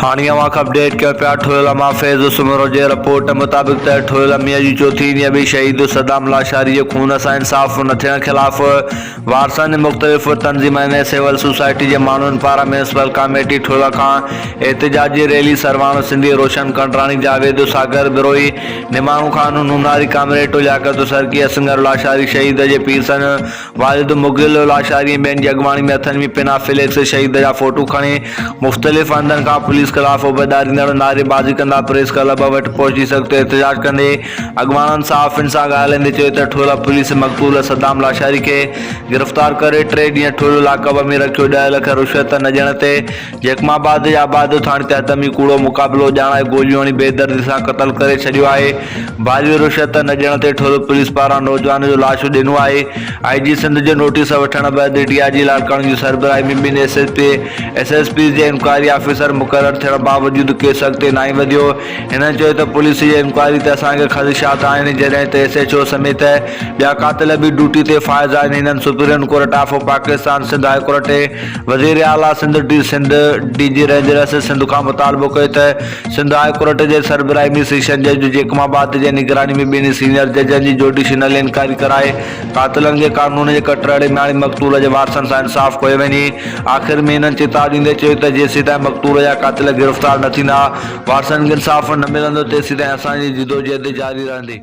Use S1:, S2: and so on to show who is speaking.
S1: هاڻي اوهان کي اپڊيٽ ڪيو پيا ٺويل امان فيض سومرو جي رپورٽ مطابق ته ٺويل اميء جي چوٿين ڏينهن به شهيد صدام لاشاري جي خون سان انصاف نه ٿيڻ خلاف وارثن جي مختلف تنظيمن ۽ سول سوسائٽي جي ماڻهن پاران ميونسپل ڪاميٽي ٺويل کان احتجاجي ريلي سرواڻو سنڌي روشن ڪنڊراڻي جاويد ساگر بروهي نماڻو خان نوناري ڪامريٽو لياقت سرڪي اسنگر لاشاري شهيد جي پيرسن والد مغل الاشعري ۽ ٻين جي اڳواڻي ۾ هٿن ۾ پنا ڦلي اڪثر شهيد جا فوٽو کڻي مختلف هنڌن کان پوليس خلاف اڀ ڏاريندڙ نعري بازي ڪندا پريس ڪلب وٽ پهچي سخت احتجاج ڪندي اڳواڻن صحافين سان ڳالهائيندي چيو ته ٺولهه پوليس مقتول صدام لاشاري کي گرفتار ڪري ٽي ڏينهن ٺولهه لاڪ اپ ۾ رکيو ڏهه لک رشوت نه ڏيڻ تي جيڪم آباد جي آباد ٿاڻي تحت ۾ ئي ڪوڙو مقابلو ڄاڻائي گوليون هڻي بي دردي سان قتل ڪري ڇڏيو آهي، ڀاڄيء رشوت نه ڏيڻ تي ٺل پوليس پاران نوجوان جو لاش اڏينو آهي، آء جي سنڌ جي نوٽيس وٺڻ بعد ڊي آء جي لاڙڪاڻي جي سربراهي ۾ ٻن S S P, S S Ps جي انڪوائري آفيسر مقرر ٿيڻ باوجود ڪيس اڳتي ناهي وڌيو، هنن چيو ته پوليس جي انڪوائري تي اسان کي خدشات آهن جڏهن ته ايس ايڇ او سميت ٻيا قاتل به ڊوٽي تي فائز آهن، هنن supreme court of Pakistan, Sindh high court ۽. وزير اعليٰ Sindh D Sindh, D G ranger S S Sindh کان مطالبو ڪيو ته سنڌ هاء ڪورٽ جي سربراهي ۾ سيشن جج جيڪم آباد جي نگراني ۾ ٻنهي سينيئر ججن جي جوڊيشنل انڪوائري ڪرائي قاتلن کي قانون جي ڪٽر هڙي مياڻي مقتول جي وارثن سان انصاف ڪيو وڃي آخر ۾ هنن چيتاء ڏيندي چيو ته جيسيتائين مقتول جا قاتل گرفتار نه ٿيندا وارثن کي انصاف نه ملندو تيسيتائين اسان جي جدوجهد جاري رهندي.